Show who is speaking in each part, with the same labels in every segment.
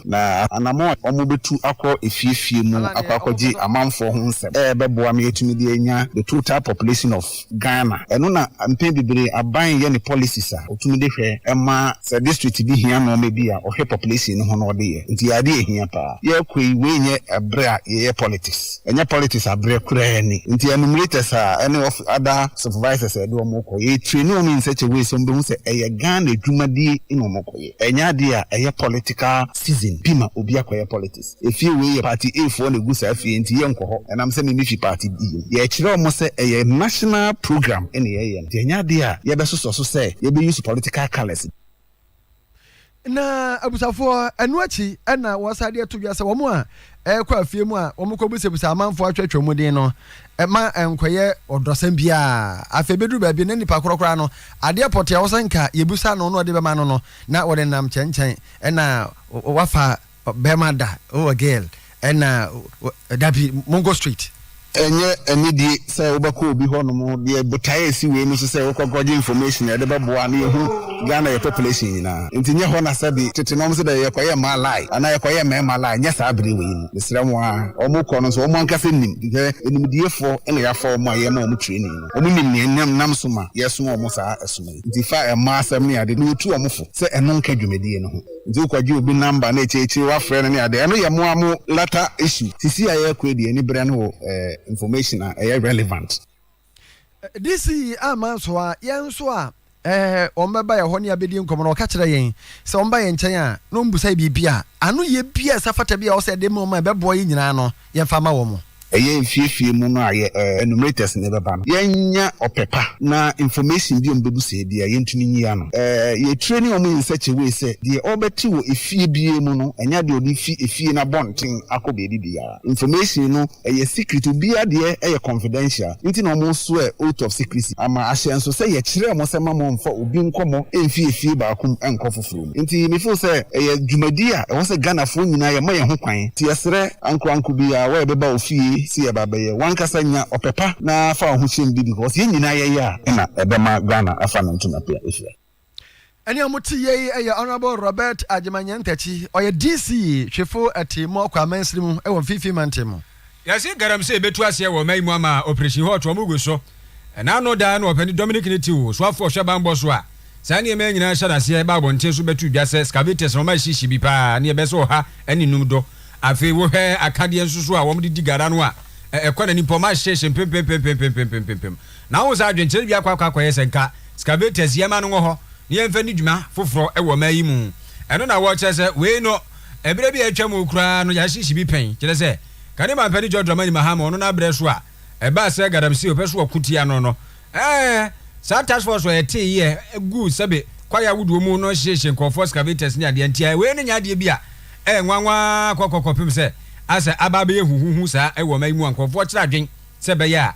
Speaker 1: na anammɔn a wɔbɛtu akɔ afie afie mu akɔ akɔgye amanfoɔ ho nsɛm bɛboa ma yɛatumi de anya the total population of Ghana. Ɛno na mpɛn bebree aban yɛ ne policies a wɔtumi de hwɛ ma sɛ district bi hia nnoɔma bi a wɔhwɛ population no ho na wɔde yɛ. Nti adeɛ a ɛhia pa ara yɛkɔ yi, wei nyɛ berɛ a yɛyɛ politics, ɛnyɛ politics aberɛ koraa ni. Nti enumerators a ɛne other supervisors a yɛde wɔn rekɔ, yɛretraini wɔn in such a way sɛ wɔbɛhu sɛ ɛyɛ Ghana adwumadie na wɔrekɔyɛ. Ɛnyɛ adeɛ a ɛyɛ political season bi ma obi akɔyɛ politics. Efie wei yɛ party A foɔ na ɛgu saa fie nti yɛ nkɔ hɔ ɛnam sɛ me me fi party B mu. Yɛkyerɛ wɔn sɛ ɛyɛ national program na yɛyɛ nti ɛnyɛ adeɛ a yɛbɛsosɔ so sɛ yɛbɛ use political colours bi. Na
Speaker 2: abusafoɔ ɛno akyi na wɔsan de ato dwa sɛ wɔn a ɛrekɔ afie mu a wɔkɔbisabisa amanfoɔ atwatwa mu din no, ɛma ɛnkɔyɛ ɔdɔsɛm biara. Afei bɛduru baabi no, na nnipa korɔ koraa no, adeɛ pɔtee a ɛwɔ sɛ nka yɛbisa no na ɔde bɛma no no, na wɔde nenam nkyɛnkyɛn, ɛna wafa bɛrima da, oh a girl, ɛna dabi, monkɔ straight. Ɛnyɛ
Speaker 1: anidie sɛ wobɛkɔ obi hɔ nom deɛ botaeɛ a ɛsi wei mu so sɛ wokɔ kɔgye information a ɛde bɛboa na yɛhu Ghana yɛ population nyinaa nti nyɛ hɔ na sɛbi tete no wɔn se dɛ yɛkɔyɛ mmaa lie anaa yɛkɔyɛ mmarima lie nyɛ saa bere wei mu mesrɛ mo ara wɔn kɔ no nso wɔn ankasa nim nti sɛ animdiefoɔ na yɛafa wɔn a yɛma wɔn training no wɔn nim nea nam nam so ma yɛsoma wɔn saa ɛsoma yi nti fa mmaa asɛm ne ade no yɛtu wɔn fo sɛ ɛno nka dwumadie no ho. Ntsi wo kɔ gye obi number na ekyir ekyir wa frɛ no ne ade ɛno yɛ mo ara mo latter issue. Sisi a yɛkɔ yi deɛ ani brɛ no wɔ information a ɛyɛ relevant.
Speaker 2: DC amma nso a, yɛn nso a wɔbɛba yɛn hɔ ne yɛabɛdi nkɔmmɔ no, wɔka kyerɛ yɛn sɛ wɔba yɛn nkyɛn a na wɔmmisa yɛ biribi a, anoyɛ bi a ɛsɛ fata bi a ɛwɔ sɛ yɛde ma wɔn a ɛbɛboa yɛn nyinaa no, yɛmfa mma wɔn. Ɛyɛ nfiefie mu
Speaker 1: no a yɛ enumerators na yɛbɛba no yɛnnya ɔpɛ pa na information bi a ɔmo bɛbu sɛɛ biaa yɛntumi nyi ano. Yɛ training ɔmo in such a way sɛ deɛ ɔbɛte wɔ efie biaa mu no ɛnyɛ adeɛ a ɔde fi efie no abɔnten akɔ baabi biaa. Information no ɛyɛ secret, obiaa deɛ ɛyɛ confidential nti na ɔmo swear oath of secrecy ama ahyɛ nso sɛ yɛkyerɛɛ mo sɛ ma mo mfa obi nkɔmɔ mfi efie baako mu nkɔ foforɔ mu. Nti me feel sɛ ɛyɛ dwumadi a ɛwɔ sɛ Ghanafoɔ nyinaa yɛ ma yɛn ho kwan. Nti yɛsrɛ ankoranko biara wɔ yɛbɛba wo fie sɛ yɛba bɛyɛ. Wankasa nya ɔpɛ pa na fa wo ho hyɛ mu bi because yɛn nyinaa yɛyɛ a ɛna ɛbɛma Ghana afa ne ntoma pe a ɛfira. Ɛne a
Speaker 2: mote yɛ yi yɛ Honourable Robert Agyeman Nyantakyi, ɔyɛ DC hwefo Atirimuɔkɔ Amansiri mu wɔ Mfimfini Mantam mu. Yɛase galamsey
Speaker 3: bɛtu aseɛ wɔ ɔman yi mu ama Operation Hot wɔn gu so. Ɛna ano daa no Ɔpanin Dominic ne tiw soafoɔ hwɛ bammɔ so a saa nneɛma yi nyinaa hyɛ no aseɛ ba abɔnten so bɛto dwa sɛ scavators na wɔn ayɛ hyehye bi paa ne ɛbɛyɛ sɛ ɔha ne nnum do. Afei wo hwɛ akadeɛ nso so a wɔn de di gara no a ɛkɔ n'anim paa wɔn ahyehye mpempempempempempempempem na wohu sɛ adwenkyerɛ bi akɔ akɔ akɔ yɛ sɛ nka scavators yɛmma no nwɔ hɔ na yɛmfa nni dwuma foforɔ wɔ ɔman yi mu. Ɛno na wɔkyerɛ sɛ wei no Bere bi a atwam hɔ koraa no, Yashishi bi pɛn, kyerɛ sɛ, kane mampɛne John Dramani Mahama, ɔno n'abrɛ so a ɛbaa sɛ Galamsey ɔpɛ so ɔko tia no no. Ɛɛ, saa task force a ɛtee yɛ guu sɛbe kwaeɛ ahodoɔ mu no hyeehyee nkurɔfoɔ, excavators ne adeɛ, nti wei no nyɛ adeɛ bi a ɛyɛ nwanwa kɔkɔ kɔpem sɛ asɛ aba abɛyɛ huhuhu saa wɔ ɔman yi mu a nkurɔfoɔ kyerɛ adwen sɛ ɛbɛyɛ a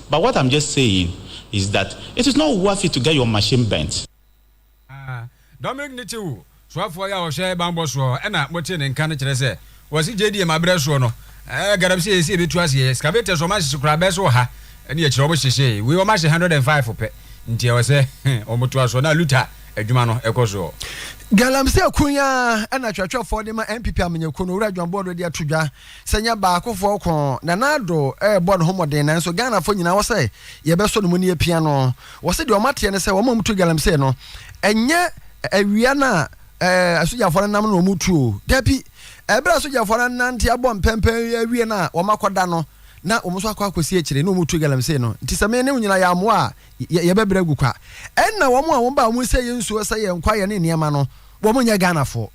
Speaker 4: But what I'm just saying is that it is not worth it to get your machine burnt.
Speaker 3: Dominic ne Tew, soafoɔ yi a ɔhwɛ banbɔ soɔ na motee ne nka no kyerɛ sɛ wɔse JDM aberɛ soɔ no galamsey ɛsɛ ɛbɛtu aseɛ, excavators wɔn ahyehye koraa bɛɛ sɛ ɔha ne akyire wɔn hyehyeeɛ, wei wɔn ahyɛ 105 pɛ nti ɛwɔ sɛ wɔn toa soɔ na Luther adwuma no ɛkɔ soɔ. Galamsey
Speaker 2: ko yi ara na twerɛtwerɛfoɔ de ma NPP amanyɛkuo no, Owura John Boado de ato dwa. Sɛ nyɛ baakofoɔ ko Nana Addo rebɔ ne ho mmɔden nanso Ghanafoɔ nyinaa wɔ sɛ yɛbɛsɔ ne mu na yɛapia no. Wɔ se deɛ wɔn ateɛ ne sɛ wɔn a wɔtu galamsey no ɛnyɛ awia no a asogyafoɔ no nam no na wɔn tu o. Dabi, ɛberɛ a asogyafoɔ no anante abɔ mpɛmpɛ awie no a wɔn akɔda no na wɔn nso akɔ akɔsi akyire na wɔn tu galamsey no. Nti sɛ me ne wo nyinaa yɛammoa a yɛbɛbrɛ agu kwa. Ɛnna wɔn a wɔn ba a wɔn sɛeɛ nsuo sɛeɛ nkwaeɛ ne nneɛma no wɔn nyɛ Ghanafoɔ.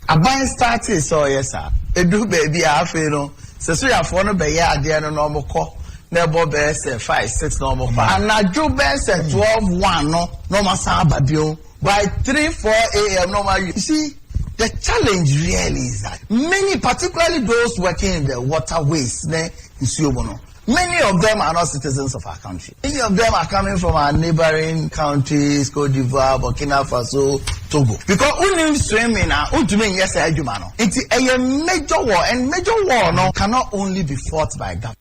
Speaker 2: Aban
Speaker 5: startee sɛ ɔyɛ saa. Ɛduru baabi a afei no sɛ sogyafoɔ no bɛyɛ adeɛ no na wɔkɔ na ɛbɔ bɛyɛ sɛ five, six na wɔkɔ a, anadwo bɛyɛ sɛ twelve, one no na wɔasan aba bio, by three, four AM na wɔawie. You see, the challenge really is that many, particularly those working in the waterways ne nsuo mu no, Many of them are not citizens of our country. Many of them are coming from our neighboring countries, Cote d'Ivoire, Burkina Faso, Togo. Because wonim swimming a wontumi nyɛ saa adwuma no. Nti ɛyɛ major war and major war no cannot only be fought by government.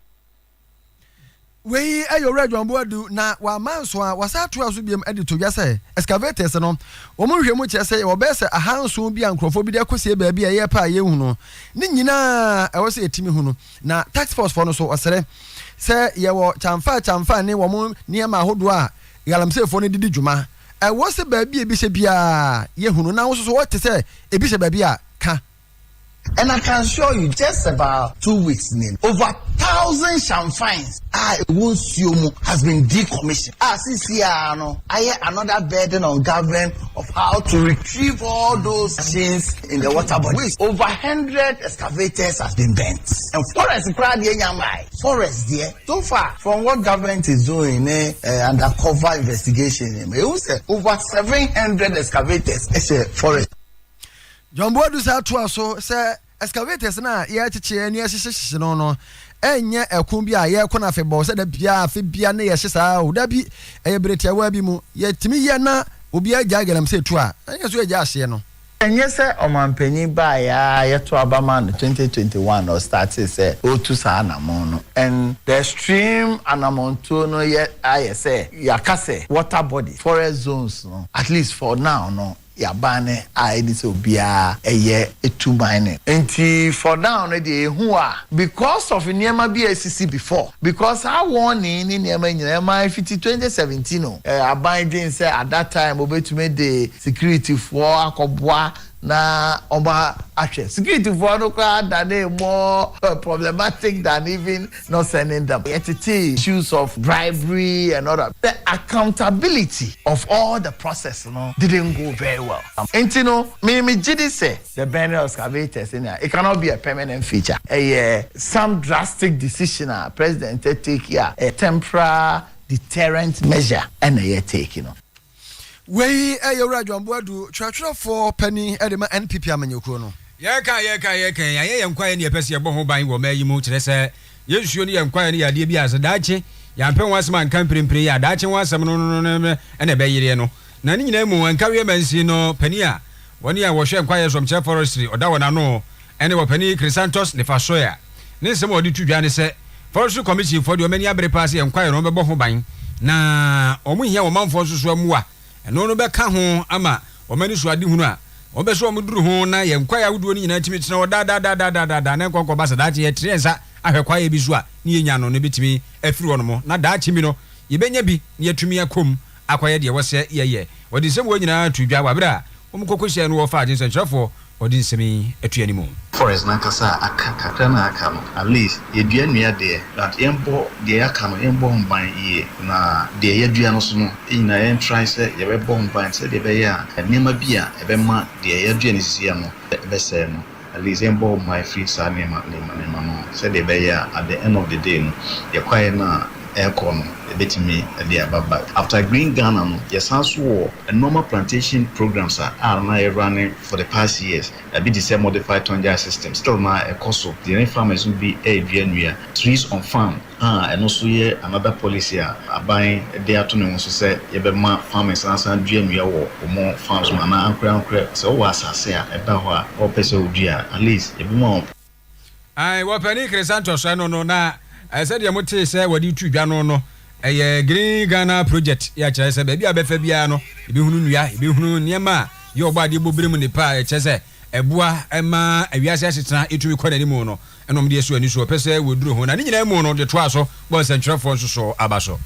Speaker 2: Wei yɛ Owura John Boadu na wama nso a wɔsan atoa so biom de to dwa sɛ excavators no wɔn nhwehwɛmu kyerɛ sɛ yɛwɔ bɛyɛ sɛ ahanson bi a nkurɔfoɔ bi de akɔsie baabi a ɛyɛ pɛ a yɛnhu no ne nyinaa ɛwɔ sɛ yɛtumi hu no. Na task force foɔ no so ɔsrɛ sɛ yɛwɔ kyanfaa kyanfaa ne wɔn nneɛma ahodoɔ a galamsey foɔ no de di dwuma. Ɛwɔ sɛ baabi a ebi hyɛ biara yɛ hunu na wo nso so wɔ te sɛ ebi hyɛ baabi a ka. And
Speaker 5: I can assure you just about two weeks ni over thousand shamfans. a ɛwɔ nsuo mu has been decommissioned a sisi ara no ayɛ another burden on government of how to retrieve all those machines in the water bodies over hundred excavators has been burnt and forest koraa deɛ nya mmae forest deɛ so far from what government is doing ne uh, undercover investigation ne ma ehu sɛ over seven hundred excavators ɛhyɛ forest. John
Speaker 2: Boadu sɛ atoa so sɛ Excavators no a yɛrekyekye ne yɛrehyehye hyehye no no, ɛnyɛ ɛko bi a yɛko no afebɔɔ sɛ da biara afe biara na yɛhyɛ saa o. Dabi, ɛyɛ bere tiawaa bi mu. Yɛtumi yɛ na obiara gyae galamsey tu a, na yɛn nso yɛgyae ahyeɛ no. Ɛnyɛ sɛ
Speaker 5: ɔmampanyin baeɛ ara yɛto aba maa no 2021 na ɔstartee sɛ ɔretu saa anamɔn no. And the stream anamɔntuo no yɛ ayɛ sɛ yɛaka sɛ water body, forest zones no, at least for now no, Yaban no a ɛne sɛ obiara yɛ tu mining. Nti for now no deɛ ɛhu a because of nneɛma bi a asisi before because saa warning ne nneɛma nyinaa ɛmaa fiti twenty seventeen no aban dwen sɛ at that time wɔbɛtumi de security foɔ akɔboa na wɔn ahwɛ security foɔ no koraa danee more problematic than even not sending them yɛtetee issues of bribery and all that the accountability of all the process no didn't go very well nti no me megye di sɛ the burning of scavators sɛnea it cannot be a permanent feature ɛyɛ some drastic decision a president take a ɛyɛ temporal deterrent measure ɛna yɛ take no. Wei
Speaker 2: yɛ Owura John Boadu, twerɛtwerɛfoɔ panin de ma NPP amanyɔkuo no. Yɛreka, yɛreka,
Speaker 3: yɛreka a, yɛanyɛ yɛn kwaeɛ ne yɛpɛ sɛ yɛbɔ ho ban wɔ ɔman yi mu, kyerɛ sɛ, yɛn nsuo ne yɛn kwaeɛ no yɛ adeɛ bi a sɛ daakye yɛampɛ ho asɛm anka mprempren yi a, daakye ho asɛm no no no na ɛbɛyereɛ no. Na ne nyinaa mu, Nkawie Mansin no panin a wɔne a wɔhwɛ Nkwaeɛ Som kyerɛ Forestry, ɔda wɔn ano, ɛne Ɔpanin Chrysanthus Nifasoea. Ne nsɛm a ɔde to dwa ne sɛ, Forestry Commission foɔ deɛ wɔn ani abere paa sɛ yɛn kwaeɛ no wɔn bɛbɔ ho ban, na wɔn hia wɔn manfoɔ nso so mmoa. Ɛno no bɛka ho ama wɔn ani so adehunu a wɔn bɛ sɛ wɔn duru ho na yɛn kwaeɛ ahodoɔ no nyinaa tumi tena hɔ daadaadaadaadaadaa na ɛnkɔ nkɔba sa daakye yɛ tene yɛn nsa ahwɛ kwaeɛ bi so a ne yɛnya no no bɛtumi afiri hɔ nom na daakye bi no yɛbɛnya bi na yɛatumi akɔ mu akɔyɛ deɛ wɔsɛ yɛyɛ. Wɔde nsɛm wɔ nyinaa too dwa wɔ aberɛ a wɔn koko hyɛɛ no wɔfaa adwensɛnkyerɛfoɔ ɔde nsɛm yi too anim. Forest no ankasa a
Speaker 6: aka kakra no a aka no at least yɛdua nnua deɛ but yɛnbɔ deɛ aka no yɛnbɔ ho ban yie na deɛ yɛadua no so no nyinaa yɛn try sɛ yɛbɛbɔ ho ban sɛdeɛ ɛbɛyɛ a nneɛma bi a ɛbɛma deɛ yɛadua no sisia no bɛsɛe no. At least yɛmbɔ wo ban firi saa nneɛma nneɛma nneɛma no ho sɛdeɛ ɛbɛyɛ a at the end of the day no yɛ kwaeɛ no a ɛrekɔ no yɛbɛtumi de aba back. After Green Ghana no yɛsan nso wɔ nnoɔma plantation programmes a a na yɛ runne for the past years. Ɛbi te sɛ modified tonjai system still no ara ɛkɔ so. Yɛne farmers no bi ɛredua nnua, trees on farm. a ɛno nso yɛ another policy a aban de ato ne ho so sɛ yɛbɛma farmers no asan adua nnua wɔ wɔn farms mu anaa ankorɛ ankorɛ sɛ wowɔ asase a ɛda hɔ a wɔpɛ sɛ wodua a at least yɛbɛma wɔn Ae,
Speaker 3: wɔpanin Chrysanthus ɛno no na sɛdeɛ mo tee sɛ wɔde retu dwa no no ɛyɛ Green Ghana project yɛ kyerɛ sɛ baabi a bɛfa biara no yɛbɛhunu nnua, yɛbɛhunu nneɛma a yɛ ɔbɔ adeɛ bɔ berɛ mu nnepa a ɛkyɛ sɛ ɛboa ma wiase asetena tumi kɔ n'anim no, ɛna wɔde asɔ ani so, wɔpɛ sɛ wɔduru ho, na ne nyinaa mu no, wɔde toaa so bɔɔ nsɛnkyerɛfoɔ nso so aba so.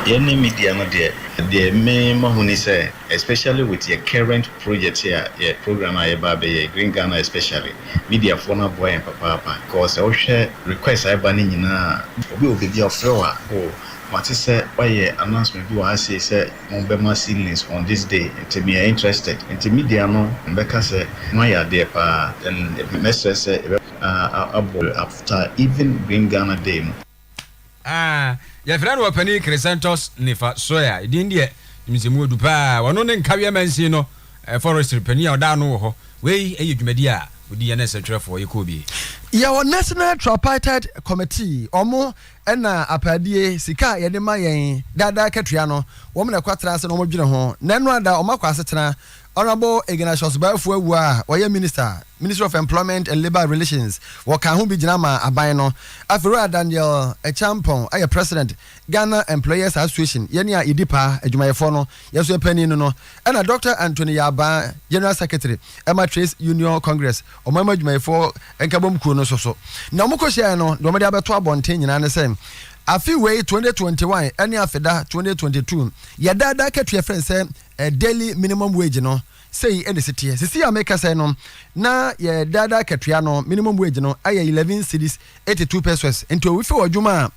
Speaker 3: Yɛne
Speaker 6: media no deɛ, deɛ me mahu ne sɛ, especially with yɛ current project yi a, yɛ programme a yɛba abɛyɛ yi, Green Ghana especially, mediafoɔ no aboa yɛn papaapa, because sɛ wohwɛ request a ɛba no nyinaa a, obi wɔ baabi a ɔfrɛ wo a, oh, mate sɛ woayɛ announcement bi wɔ ha sei sɛ, Hɔn bɛma seedlings hɔn this day ntsi meyɛ interested ntsi media no mbɛka sɛ ho ayɛ adeɛ paa then mɛsrɛ sɛ yɛbɛ aboa you after even Green Ghana day no. Aah
Speaker 3: yɛfrɛ no ɔpanin Crescentus Nifa Soya, edin deɛ nim sɛ mu ɔdu paa, ɔno ne Nkawie Mansin no Forestry panin a ɔda ano wɔ hɔ, wei yɛ dwumadie a ɔdi yɛ ne sɛ twerɛfoɔ, yɛkɔ obie. Yɛwɔ National
Speaker 2: Tripartite Committee, wɔn Ɛna apaadie, sika a yɛde ma yɛn daa daa akatua no, wɔn na ɛkɔtra ase na wɔdwene ho. Na ɛno ada wɔn akɔ asetena. Honourable Ignatius Baafu Awuah a ɔyɛ Minister, Ministry of Employment and Labour Relations, wɔkaa ho bi gyina maa aban no. Afei Wura Daniel Acheampong yɛ President, Ghana Employers Association, yɛn a yɛdi paa, adwumayɛfoɔ no, yɛn nso yɛpanin no no. Ɛna Doctor Anthony Yarbaa, General Secretary ma Trades Union Congress, Ɔman mu adwumayɛfoɔ nkabom kuo no nso so. Nea wɔkɔ hyiaeɛ no, deɛ wɔde abɛto abɔnten nyinaa ne sɛ, afe wei 2021 ne afeda 2022, yɛ daa daa akatua frɛ no sɛ Daily Minimum Wage no, sei na ɛsi teɛ. Sisi a mekasa yi no, na yɛ daa daa akatua no, minimum wage no, ayɛ 11 cedis 82 pesos. Nti owifi wɔ adwuma a,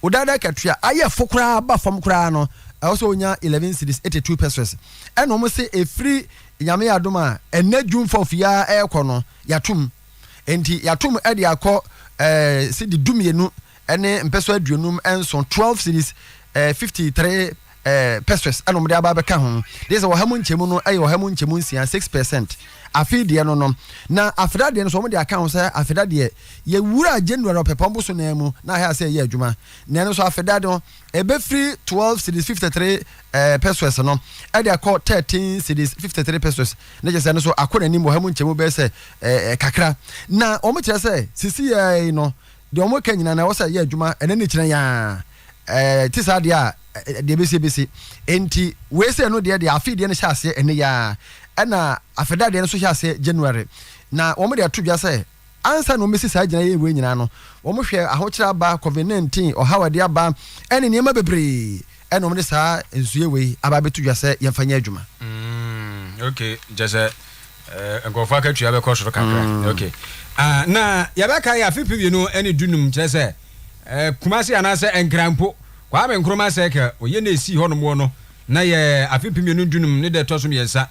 Speaker 2: wo daa daa akatua ayɛ fo koraa ba fam koraa no, ɛwɔ sɛ wonya 11 cedis 82 pesos. Ɛna wɔn se ɛfiri Nyame yɛ adom a, ɛnnɛ June fourth yi ara ɛrekɔ no, yɛato mu. Enti yɛato mu de akɔ eh, cedi du mmienu ne mpɛsɔ aduonum nson, twelve cedis, eh, fifty three eh, pesos ɛna wɔde aba abɛka ho. Gye sɛ ɔha mu nkyɛmu no ɛyɛ ɔha mu nkyɛmu nsia, six percent. Afei deɛ no no, na afeda deɛ no so wɔde aka ho sɛ afeda deɛ yɛwura January ɔpɛpɔn boso no ara mu na ahɛ asɛ ɛyɛ adwuma. Na ɛno nso afeda no, Ebefiri twelve cedis fifty three ɛɛ pesos no ɛde akɔ thirteen cedis fifty three pesos ne kyɛ sɛ ɛno nso akɔ n'anim wɔ ha mu nkyɛmu bɛyɛ sɛ ɛɛ kakra na wɔn kyerɛ sɛ sisi yɛ ara yi no deɛ wɔn ka nyinaa na ɛwɔ sɛ ɛyɛ adwuma ɛnɛ ne kyerɛ yaa ɛɛ te saa deɛ a deɛ besi besi nti wei sɛ ɛno deɛ deɛ afe deɛ no hyɛ aseɛ ɛnɛ yaa ɛna afɛda deɛ no nso hyɛ aseɛ January na wɔn de ato dwa sɛ Ansa na wɔbesi saa gyinae wei nyinaa no, wɔhwɛɛ ahokyere aba, Covid nineteen, ɔhaw a ɛde aba, ne nneɛma bebree, ɛna wɔde saa nsuiɛ wei aba abɛto dwa sɛ yɛmfa nyɛ adwuma. Mm,
Speaker 3: okay. Kyerɛ sɛ eh, nkurɔfoɔ akatua bɛkɔ soro kakra. Mm. Okay. Ah, na yɛbɛkae afe pɛ mmienu ne du num, kyerɛ sɛ eh, Kumasi anaasɛ Nkranpo, Kwame Nkrumah Circle, ɔyɛ na ɛsii hɔnom wɔ no, na yɛ afe pɛ mmienu du num ne da ɛtɔ so mmiɛnsa.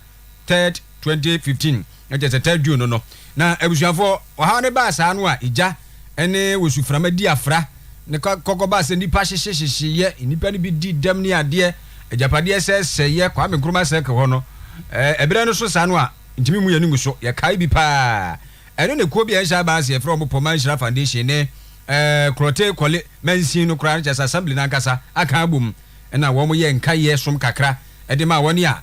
Speaker 3: third twenty fifteen na kyerɛ sɛ third June no no na abusuafoɔ ɔhaw no baa saa no a egya ɛne wosuframa di afra ne kɔkɔ baa sɛ nnipa hyehye hyehyeeɛ nnipa no bi di dɛm ne adeɛ agyapadeɛ sɛ sɛeɛ Kwame Nkrumah circle hɔ no ɛberɛ no so saa no a ntumi mu yɛ no mu so yɛ kae bi paa ɛno ne kuo bi a ɛnhyɛ abaa ase yɛfrɛ wɔn Pɔma Nhyira Foundation ne ɛɛ Korɔte Kɔle Mansin no koraa no kyerɛ sɛ assembly no ankasa aka abom ɛna wɔn yɛ nkaeɛ som kakra ɛde maa wɔn a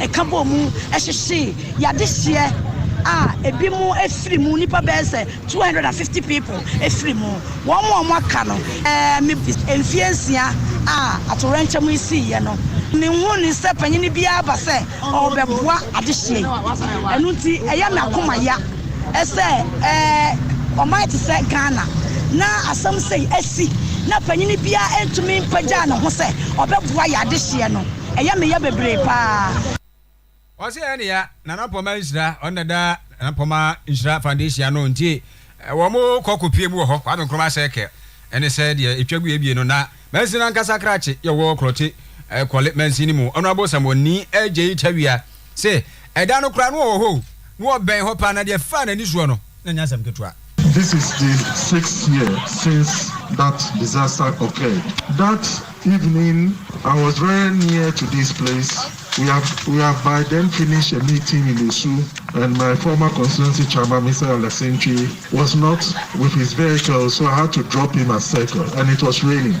Speaker 7: ɛka bɔɔ mu hyehyee y'adehyeɛ a ebi mu efiri mu nipa bɛyɛ sɛ two hundred and fifty people efiri mu wɔn mu a wɔn aka no ɛɛ mi mfie nsia a atorɛnkyɛm yi sii yɛ no mi nhu ne sɛ panyin biara ba sɛ ɔbɛboa adehyeɛ yi ɛnu ti ɛyɛ mi akoma ya ɛsɛ ɛɛ ɔman ti sɛ Ghana na asɛm sɛ esi na panyin biara ntumi mpagya ne ho sɛ ɔbɛboa yɛ adehyeɛ no. Ɛyɛ me ya bebree paa. Ɔse
Speaker 3: ɛyɛ ne ya Nana Poma nhyira ɔno na ɛda Nana Poma nhyira foundation ano nti wɔn kɔ kɔ pie mu wɔ hɔ Kwame Nkrumah circle ɛne sɛ deɛ ɛtwa gu ebie no na mansin ankasa krakye yɛ wɔ Krɔte kɔle mansin no mu Honourable Samuel Nii Agyei Tawia Se ɛda no koraa na ɔwɔ hɔ o, na ɔbɛn hɔ paa, na deɛ ɛfaa n'ani soɔ no, na ɛnyɛ asɛm ketewa. This is the
Speaker 8: sixth year since that disaster occurred. That evening I was very near to this place, we have we have by then finished a meeting in Osu and my former constituency chairman Mister Alesintwi was not with his vehicle so I had to drop him at circle and it was raining.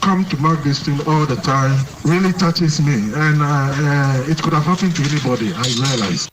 Speaker 8: come to mark this thing all the time really touches me and uh, it could have happened to anybody I realize.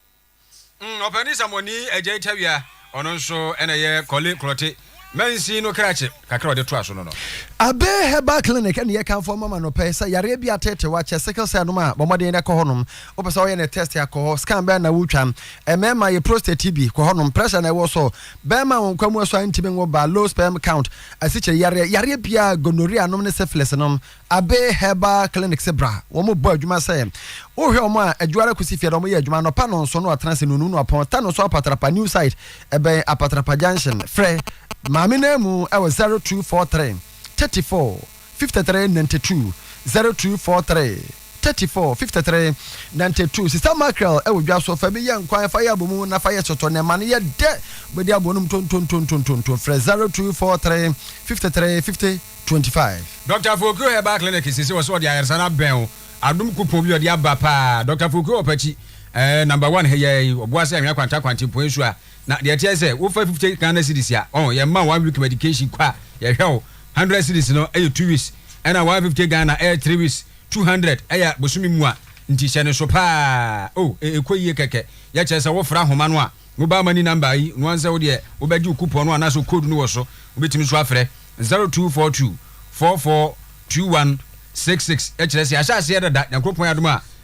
Speaker 8: Mm,
Speaker 3: ɔpɛni samoni agya itawia ɔno nso ɛna ɛyɛ kɔle korɔte mansin no krakye kakra ɔde toa so no no. Abe Herbal
Speaker 2: Clinic ɛna yɛ kanfo ɔma ma nɔpɛ sɛ yareɛ bi ateetew akyɛ sickle cell nom a bɔ mmɔden na kɔ hɔnom wopɛ sɛ ɔyɛ ne test akɔ hɔ scan bɛn na wotwa mmarima yɛ prostate bi kɔ hɔnom pressure na ɛwɔ so bɛrima wɔn nkwa mu asɔ a ntumi nwo ba low sperm count asikyere yareɛ, yareɛ biara, gonorrhea nom ne syphilis nom, Abe Herbal Clinic se bra. Wɔn bɔ adwuma sɛ, wohwɛ wɔn a, adwuara kosi fie da, wɔn yɛ adwuma anɔpa nɔnso no atena ase nunu no apɔn, ta no so apatrapa new site, ɛbɛn apatrapa junction. Frɛ Maame Namu ɛwɔ 0243 34. fifty three ninety two zero two four three thirty four fifty three ninety two sista mackerel ɛwɔ dwa so fa bi yɛ nkwan fa yɛ abomu na fa yɛ sotɔ na ɛma no yɛ dɛ bɛdi abonom tontontontontonton frɛ zero two four three fifty three fifty twenty five. Doctor Afokuo
Speaker 3: Herbal Clinic sese wɔsɛ wɔde ayaresa no abɛn wo adom kupɔn bi ɔde aba paa Doctor Afokuo Ɔpakyi ɛɛ number one heyɛɛi ɔboa sɛ anwea kwanta kwante mpoɛ nsuo a Na deɛ ɛteɛ sɛ wofa fifty Ghana cedis a ɔn yɛ ma one week medication kɔ a yɛ hwɛ wo hundred cedis no ɛyɛ two weeks ɛna one fifty Ghana ɛyɛ three weeks two hundred ɛyɛ bosome mua nti hyɛ no so paa oh e ɛkɔ yie kɛkɛ yɛ kyerɛ sɛ wo fra homa no a wo ba mani number yi no ansɛ wo deɛ wo bɛ gye wo coupon no anaa sɛ code no wɔ so wo bɛ tumi nso afrɛ zero two four two four four two one six six yɛ kyerɛ sɛ yɛ ahyɛ aseɛ dada Nyankopɔn adom a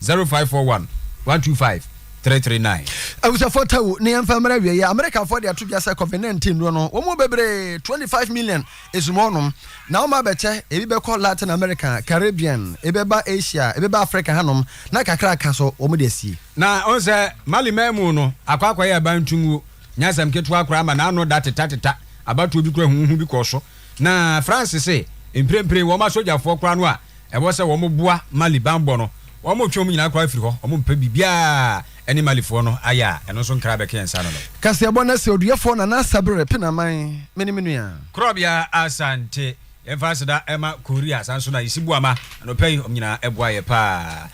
Speaker 3: Zero five four one one two five three three nine. Awusafoɔ
Speaker 2: tawu ne yɛmfa mmerɛ awieɛ Amerikafoɔ de ato dwa sɛ COVID-19 duro no wɔn mu bebree 25 million esum hɔnom na wɔn abɛkyɛ ebi bɛkɔ Latin America, Caribbean, ebɛba Asia, ebɛba Africa hanom na kakra aka so wɔn de asie. Na ɔn sɛ
Speaker 3: Mali man mu no akɔ akɔyɛ abantunguo nyɛ asɛm ketewa koraa ma n'ano da teta teta abatoɔ bi kora huhuhu bi kɔɔ so. Na France se mprempren wɔn asogyafoɔ koraa no a ɛwɔ sɛ wɔn boa Mali banbɔ no, wɔn retwe wɔn nyinaa koraa afiri hɔ. Wɔn mpɛ biribiara a ɛne Malifoɔ no ayɛ a ɛno nso nkra bɛka yɛn nsa ano no. Kaseɛbɔ na sɛ
Speaker 2: oduɛfoɔ Nana Asabere Penaman, me ne me nua. Korɔbea Asante.
Speaker 3: Yɛmfa aseda ma Korea saa nso na Yisi Boama anɔpa yi wɔn nyinaa boa yɛ paa.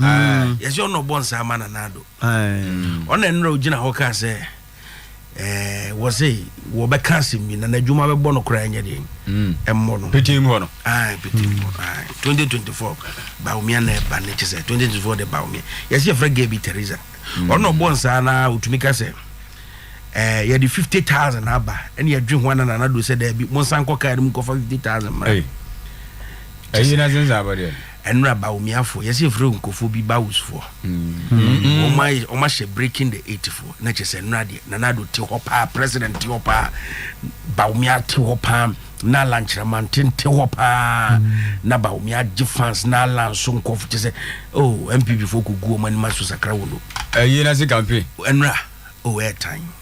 Speaker 9: yɛsɛ ɔna ɔbɔ nsa ama nana ado ɔna nnora ogyina hɔ kaa sɛ eh, wɔ se wɔbɛka asɛm bi nana adwuma bɛbɔ no koraa nyɛ deɛ mm. ɛmmɔ no petem hɔ no
Speaker 3: petem
Speaker 9: hɔ 2024 baomia na ɛba ne kyɛ sɛ 2024 de baomia yɛsɛ yɛfrɛ ga bi teresa mm. ɔna ɔbɔ nsa na ɔtumi ka sɛ eh, yɛde 50000 aba ɛne yɛdwe ho ana nana ado sɛ daabi monsa nkɔ kaa no mu kɔfa 50000 mmra
Speaker 3: ɛyi na sensɛ abɔdeɛ Ɛnora Bawumiafoɔ,
Speaker 9: yɛsɛ yɛfrɛ Nkurɔfoɔ bi Bawusfoɔ. Wɔn ayɛ, wɔn ahyɛ breaking the eight foɔ. Na kyerɛ sɛ nnora deɛ, Nana Addo te hɔ paa, President te hɔ paa, Bawumia te hɔ paa, na Alan Kyerɛmanten te hɔ paa. Na Bawumia gye fans na Alan nso nkɔfo kyerɛ sɛ, oh, NPP foɔ kɔgu wɔn anim aso sakra wɔn o. Ɛyi na se campaign.
Speaker 3: Ɛnora,
Speaker 9: oh, ɛɛtan.